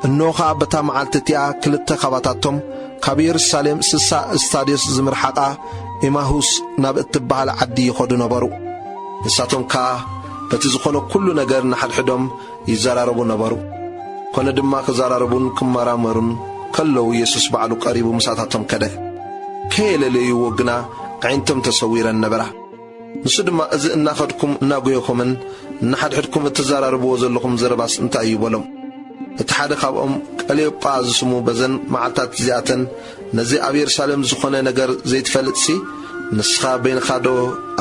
እንሆ ኸኣ በታ መዓልቲ እቲኣ ክልተ ኻባታቶም ካብ የሩሳሌም ስሳ እስታድዮስ ዝምርሓቓ ኤማሁስ ናብ እትበሃል ዓዲ ይኸዱ ነበሩ። ንሳቶም ከኣ በቲ ዝኾነ ኩሉ ነገር ንሓድሕዶም ይዘራረቡ ነበሩ። ኮነ ድማ ክዘራረቡን ክመራመሩን ከለዉ የሱስ ባዕሉ ቀሪቡ ምሳታቶም ከደ። ከየለለይዎ ግና ኣዒንቶም ተሰዊረን ነበራ። ንሱ ድማ እዚ እናኸድኩም እናጎየኹምን ንሓድሕድኩም እትዘራረብዎ ዘለኹም ዘረባስ እንታይ እዩ? በሎም። እቲ ሓደ ካብኦም ቀልዮጳ ዝስሙ በዘን መዓልትታት እዚኣተን ነዚ ኣብ የሩሳሌም ዝኾነ ነገር ዘይትፈልጥሲ ንስኻ በይንኻዶ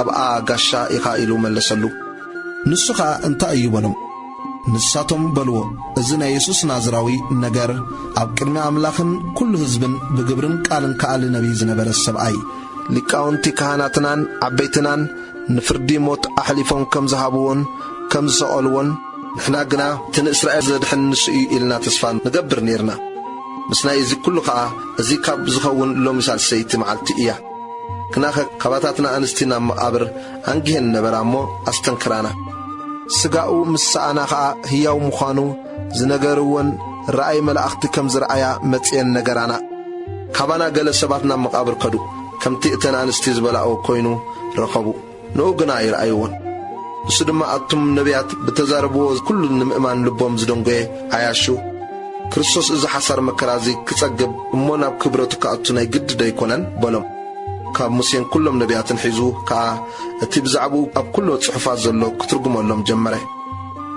ኣብኣ ጋሻ ኢኻ? ኢሉ መለሰሉ። ንሱ ኸኣ እንታይ እዩ? በሎም። ንሳቶም በልዎ፣ እዚ ናይ የሱስ ናዝራዊ ነገር፣ ኣብ ቅድሚ ኣምላኽን ኵሉ ህዝብን ብግብርን ቃልን ከኣሊ ነብዪ ዝነበረ ሰብኣይ እዩ። ሊቃውንቲ ካህናትናን ዓበይትናን ንፍርዲ ሞት ኣሕሊፎም ከም ዝሃብዎን ከም ዝሰቐልዎን፣ ንሕና ግና እቲ ንእስራኤል ዘድሕን ንሱ እዩ ኢልና ተስፋ ንገብር ኔርና። ምስናይ እዚ ኵሉ ኸኣ እዚ ካብ ዝኸውን ሎሚ ሳልሰይቲ መዓልቲ እያ። ግናኸ ካባታትና ኣንስቲ ናብ መቓብር ኣንጊሀን ነበራ እሞ ኣስተንክራና። ስጋኡ ምስ ሰኣና ኸኣ ህያው ምዃኑ ዝነገርወን ራእይ መላእኽቲ ከም ዝረኣያ መጺኤን ነገራና። ካባና ገለ ሰባት ናብ መቓብር ከዱ፣ ከምቲ እተን ኣንስቲ ዝበላኦ ኮይኑ ረኸቡ። ንኡ ግና ኣይረኣይዎን። ንሱ ድማ ኣቱም ነብያት ብእተዛረብዎ ኵሉ ንምእማን ልቦም ዝደንጐየ ዓያሹ፣ ክርስቶስ እዚ ሓሳር መከራ እዚ ኪጸግብ እሞ ናብ ክብረቱ ኪኣቱ ናይ ግድዶ ኣይኰነን? በሎም። ካብ ሙሴን ኵሎም ነብያትን ሒዙ ከኣ እቲ ብዛዕባኡ ኣብ ኵሎ ጽሑፋት ዘሎ ኪትርጕመሎም ጀመረ።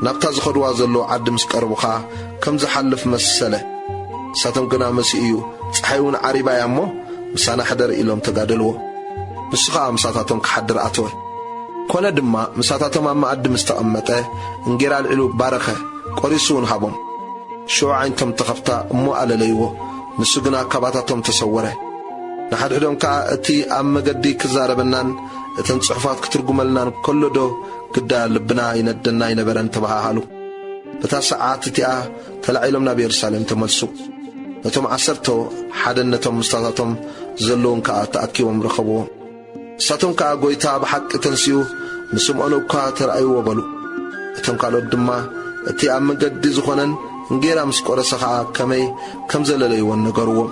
ናብታ ዚኸድዋ ዘለዉ ዓዲ ምስ ቀረቡ ኸኣ፣ ከም ዝሓልፍ መሰለ። ንሳቶም ግና መሲኡ እዩ፣ ጸሓይውን ዓሪባ እያ እሞ፣ ምሳና ሕደር ኢሎም ተጋደልዎ። ንሱ ኸኣ ምሳታቶም ኪሓድር ኣተወ። ኰነ ድማ፣ ምሳታቶም ኣብ መኣዲ ምስ ተቐመጠ፣ እንጌራ ኣልዒሉ ባረኸ፣ ቈሪሱውን ሃቦም። ሽዑ ኣዒንቶም ተኸፍታ እሞ ኣለለይዎ፣ ንሱ ግና ካባታቶም ተሰወረ። ንሓድሕዶም ከኣ፣ እቲ ኣብ መገዲ ኪዛረበናን እተን ጽሑፋት ኪትርጕመልናን ከሎዶ ግዳ ልብና ይነደና ኣይነበረን? ተበሃሃሉ። በታ ሰዓት እቲኣ ተላዒሎም ናብ የሩሳሌም ተመልሱ። ነቶም ዓሰርቶ ሓደን ነቶም ምስታታቶም ዘለዉን ከኣ ተኣኪቦም ረኸብዎ። ንሳቶም ከኣ ጐይታ ብሓቂ ተንሲኡ ንስምዖን እኳ ተራእይዎ በሉ። እቶም ካልኦት ድማ እቲ ኣብ መገዲ ዝኾነን እንጌራ ምስ ቈረሰ ኸኣ ከመይ ከም ዘለለይዎን ነገርዎም።